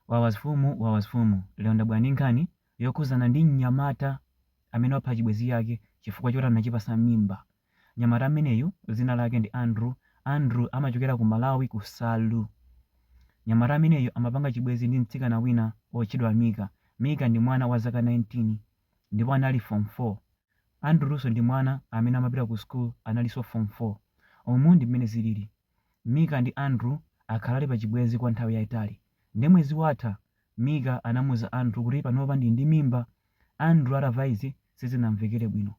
Wawasfumu Wawasfumu lero ndabwera ndi nkhani yokhuzana ndi mnyamata amene wapha chibwezi chake chifukwa choti anachipasa mimba mnyamata ameneyu zina lake ndi Andrew Andrew amachokera ku Malawi Kasungu mnyamata ameneyu amapanga chibwezi ndi mtsikana wina otchedwa Mika Mika ndi mwana wa zaka 19 ndipo anali form 4 Andrewso ndi mwana amene amapita ku school analiso form 4 umu ndi mmene zilili Mika ndi Andrew akhala ali pachibwenzi kwa nthawi yaitali. Nde mwezi watha, Mika anamuuza Andrew kuti panopa ndili ndi mimba. Andrew atava izi sizinamvekere bwino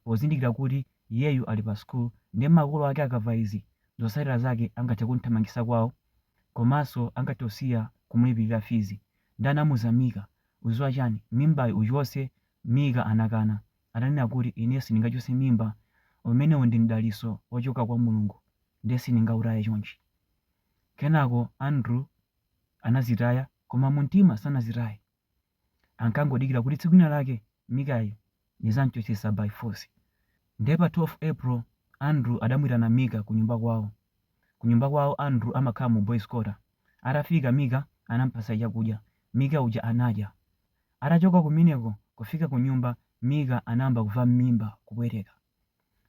pozindikira kuti iyeyu ali pa school nde makolo ake akava izi zotsatira zake angathe kumthamangisa kwawo komanso angathe kusiya kumulipilira fizi. Nde anamuuza Mika uziwa chani mimbayi uchotse Mika anakana. ananena kuti ine sindingachotse mimba, umenewo ndi mdalitso wochoka kwa Mulungu ndiye sindingautaye chonchi. Kenako Andrew anadzitaya koma mumtima sanadzitaye. Ankangodikira kuti tsiku lina lake Mikayu ndidzam'chotsetsa by force. Ndiye pa 12 April, Andrew adamuitana Mika kunyumba kwawo. Kunyumba kwawo Andrew amakhala mu boys quarter. Atafika Mika anamupatsa chakudya. Mika uja anadya. Atachoka kumeneko kufika kunyumba Mika anayamba kuva mmimba kukupweteka.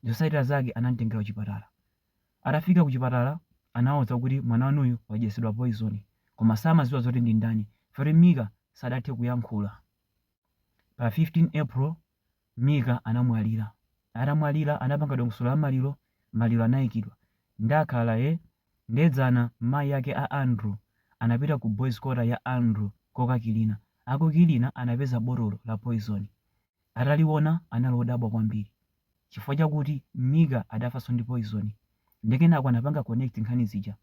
Zosatira zake anamtengera kuchipatala. Atafika kuchipatala anawauza kuti mwana wanuyu wadyetsedwa poison koma samaziwa zoti ndindani chifukwa choti Mika samathe kuyankhula. Pa 15 April 2022. Mika anamwalira. Atamwalira anapanga dongosolo la maliro, maliro anaikidwa. Ndikhale eh? Nde dzana mayi ake a Andrew anapita ku boys quarter ya Andrew kokakilina. Akukilina anapeza botolo la poison. Ataliona anali odabwa kwambiri. Chifukwa chakuti Mika adafanso ndi poison. Nde kenako anapanga connect nkhani zija.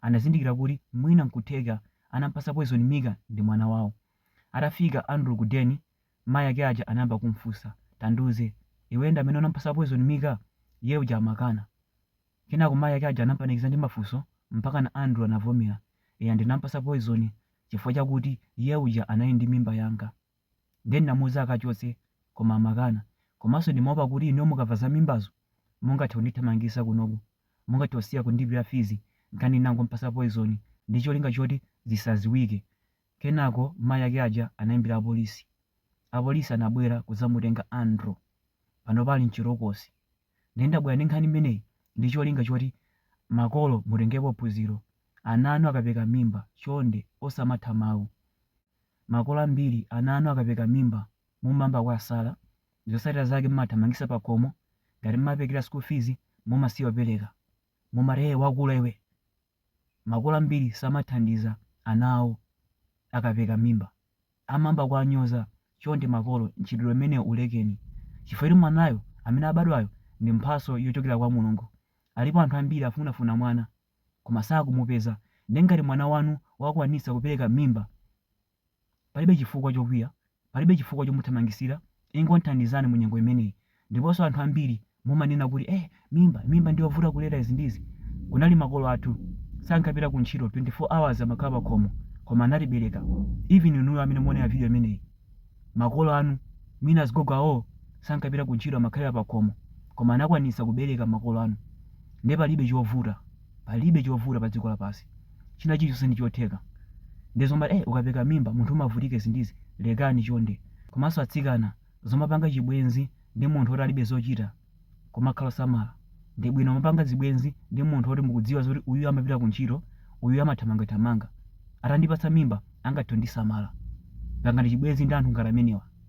Anazindikira kuti mwina nkutheka anampatsa poison Mika ndi mwana wawo. Atafika Andrew ku den. Mayi ake aja anayamba kum'funsa, Tandiuze, iweyo ndi amene unamupatsa poizoni Mika? Iye uja amakana. Kenako mayi ake aja anam'panikiza ndi mafunso mpakana Andrew anavomera, Eya ndinamupatsa poizoni chifukwa chakuti iye uja anali ndi mimba yanga. Ndiye ndinamuuza akachotse koma amakana. Komanso ndimaopa kuti inuyo mukamva za mimbazo mungathe kundithamangitsa kunoku. Mungathe kusiya kundilipira fizi, n'chake ndinangom'patsa poizoni ndi cholinga choti zisadziwike. Kenako mayi ake aja anaimbira apolisi. Apolisi anabwera kudzamutenga Andrew. Panopa ali m'chitokosi. Ndiye ndabwera ndi nkhani imeneyi ndi cholinga choti makolo mutengepo phunziro. Ana anu akapeka mimba, chonde osamatha mawu. Makolo ambiri ana anu akapeka mimba mumayamba kuwasala, zotsatira zake mumathamangitsa pakhomo, ngati mumaperekera school fees mumasiya kupereka. Mumati, Hey wakula iwe! Makolo ambiri samathandiza ana awo akapereka mimba. Amayamba kuwanyoza. Chonde makolo, mchitidwe umenewu ulekeni. Chifukwa choti mwanayo, amene abadwayo, ndi mphatso yochokera kwa Mulungu. Alipo anthu ambiri akufunafuna mwana, koma sakumupeza. Ndiye ngati mwana wanu wakwanitsa kupereka mimba, Palibe chifukwa chokwiya, palibe chifukwa chomuthamangitsira, ingothandizani mu nyengo imeneyi. Ndiponso anthu ambiri mumanena kuti eh mimba, mimba ndiyovuta kulera izi ndi izi. Kunali makolo athu sankapita ku ntchito 24 hours amakhala pakhomo koma anatibereka. Even inuyo amene muonera video imeneyi, makolo anu mwina azigogo awo sankapita ku ntchito amakhalira pakhomo koma anakwanitsa kubereka makolo anu. Nde palibe chovuta, palibe chovuta padziko lapansi. china chilichonse ndi chotheka nde zomati eh ukapereka mimba munthu umavutika izi ndi izi lekani chonde komanso atsikana zomapanga chibwenzi ndi munthu oti alibe zochita kumakhala osamala ndi bwino kumapanga zibwenzi ndi munthu oti mukudziwa zoti uyuyu amapita ku ntchito uyuyu amathamangathamanga atandipatsa mimba angathe kundisamala pangani chibwenzi ndi anthu ngati amenewa.